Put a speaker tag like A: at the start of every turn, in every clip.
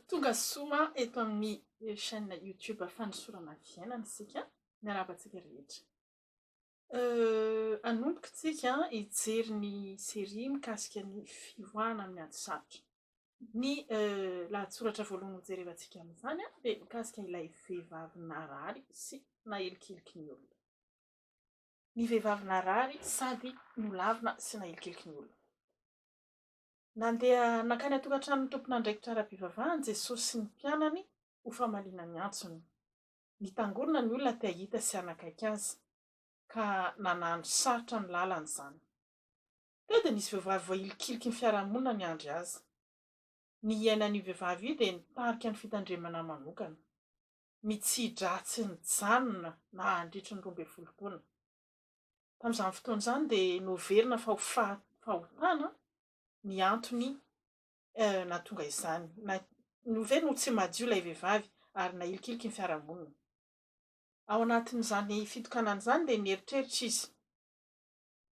A: Tonga soa eto amin'ny chaîne YouTube Fanosorana Fiainana isika. Miarahaba antsika rehetra. Hanomboka isika hijery ny série mikasika ny fivoahana amin'ny ady sarotra. Ny lahatsoratra voalohany hojerevantsika amin'izany dia mikasika ilay vehivavy narary sy nahilikiliky ny olona. Ny vehivavy narary sady nolavina sy nahilikiliky ny olona. Nandeha nankany an-tokantranon'ny tompon'andraikitra ara-pivavahana Jesosy sy ny mpianany ho famaliana ny antsony. Nitangorona ny olona te hahita sy hanakaiky azy, ka nanano sarotra ny lalany izany. Teo dia nisy vehivavy voahilikiliky ny fiarahamonina niandry azy. Ny iainan'io vehivavy io dia nitarika ny fitandremana manokana. Ny tsy-hidratsy nijanona nandritry ny roa ambin'ny folo taona. Tamin'izany fotoana izany dia noheverina fa ho fahotana ny antony nahatonga izany. Noho ve no tsy madio ilay vehivavy ary nahilikiliky ny fiarahamonina? Ao anatin'izany fitokanana izany dia nieritreritra izy,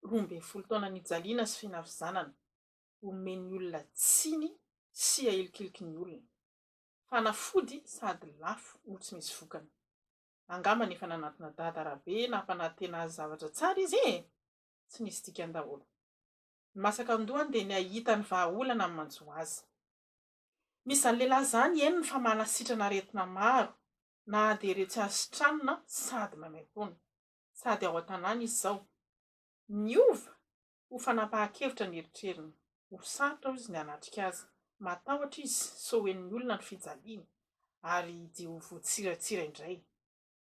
A: roa ambin'ny folo taona nijaliana sy finavizanana, omen'ny olona tsiny sy ahilikiliky ny olona. Fanafody sady lafo no tsy misy vokany. Angamba efa nanatona dada Rabe nampanantena azy zavatra tsara izy e! Tsy nisy dikany daholo. Ny masaka an-dohany dia ny hahita ny vahaolana amin'ny manjo azy. Misy izany lehilahy izany eny fa manasitrana aretina maro na dia iretsy hasitranina sady maimaimpoana. Sady ao an-tanàna izy izao. Niova? Ho fanapahan-kevitra ny eritreriny. Ho sarotra hoy izy ny hanatrika azy. Matahotra izy sao ho henon'ny olona ny fijaliany, ary dia ho voatsiratsira indray.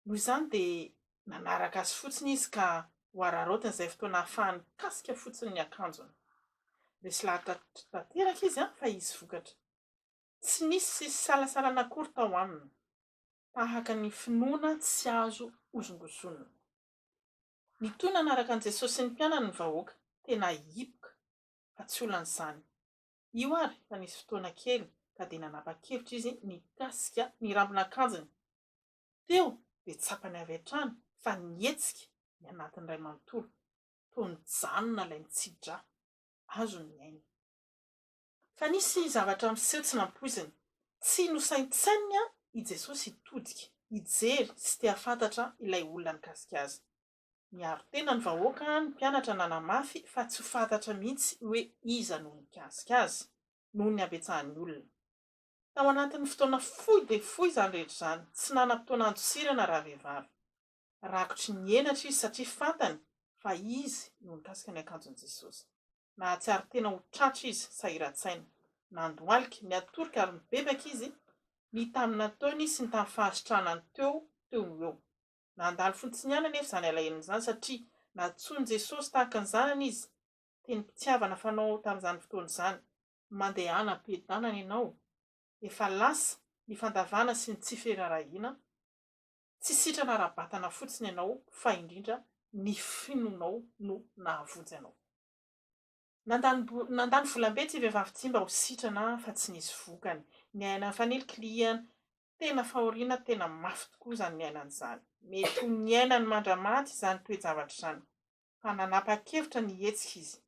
A: Noho izany dia nanaraka azy fotsiny izy ka ho araraotiny izay fotoana hahafahany mikasika fotsiny ny akanjony. Resy lahatra tanteraka izy fa hisy vokatra. Tsy nisy fisalasalana akory tao aminy, tahaka ny finoana tsy azo hozongozonina. Nitohy nanaraka an'i Jesosy sy ny mpianany ny vahoaka, tena hipoka, fa tsy olan'izany. Io àry fa nisy fotoana kely ka dia nanapa-kevitra izy nikasika ny rambon'akanjony. Teo dia tsapany avy hatrany fa nihetsika ny anatiny iray manontolo. Toa nijanona ilay mitsi-drà. Azony ny ainy. Fa nisy zavatra niseho tsy nampoiziny. Tsy nosaintsaininy i Jesosy hitodika, hijery sy te-hahafantatra ilay olona nikasika azy. Niaro tena ny vahoaka ny mpianatra nanamafy fa tsy ho fantatra mihitsy hoe iza no nikasika azy, noho ny habetsahan'ny olona. Tao anatin'ny fotoana fohy dia fohy izany rehetra izany, tsy nanam-potoana handosirana ravehivavy. Rakotry ny henatra izy satria fantany fa izy no nikasika ny akanjon'i Jesosy. Nahatsiaro tena ho tratra izy, sahiran-tsaina. Nandohalika, niatorika ary nibebaka izy, ny tamin'ny nataony sy ny tamin'ny fahasitranany teo, teo no eo. Nandalo fontsiny ihany anefa izany alahelony izany, satria nantsoin'i Jesosy tahaka ny zanany izy, tenim-pitiavana fanao tamin'izany fotoana izany, Mandehana am-piadanana ianao, efa lasa ny fandavana sy ny tsy firaharahiana, Tsy sitrana ara-batana fotsiny ianao fa indrindra ny finoanao no nahavonjy anao. Nandany nandany volambe ity vehivavy ity mba ho sitrana fa tsy nisy vokany. Niaina nifanilinkilihana. Tena fahoriana tena mafy tokoa izany niainana izany. Mety ho niainany mandra-maty izany toe-javatra izany. Fa nanapa-kevitra ny hihetsika izy.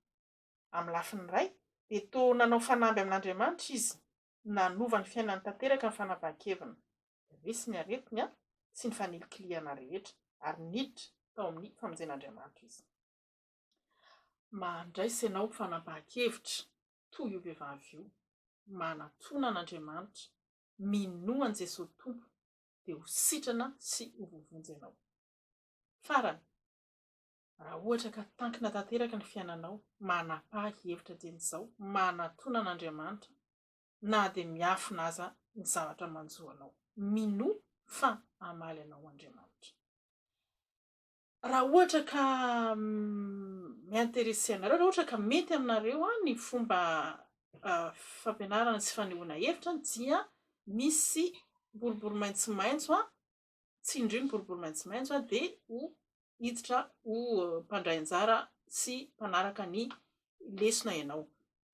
A: Amin'ny lafiny iray dia toa nanao fanamby amin'Andriamanitra izy. Nanova ny fiainany tanteraka ny fanapahan-keviny. Resy ny aretiny sy ny fanilikilihana rehetra, ary niditra tao amin'ny famonjen'Andriamanitra izy. Mandraisa ianao fanapahan-kevitra toy io vehivavy io, manatona an'Andriamanitra, minoa an'i Jesoa ho Tompo, dia ho sitrana sy ho voavonjy ianao. Farany, Raha ohatra ka tankina tanteraka ny fiainanao, manapaha hevitra dieny izao, manatona an'Andriamanitra na dia miafina aza ny zavatra manjo anao. Minoa fa hamaly anao Andriamanitra. Raha ohatra ka mi-interesser anareo, raha ohatra ka mety aminareo ny fomba fampianarana sy fanehoana hevitra dia misy boribory maitsomaitso tsindrio ny boribory maitsomaitso dia ho hiditra ho mpandray anjara sy mpanaraka ny lesona ianao.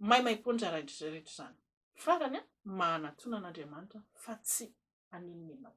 A: Maimaimpoana rehetra izany. Farany, mahanatona an'Andriamanitra fa tsy haninona ianao.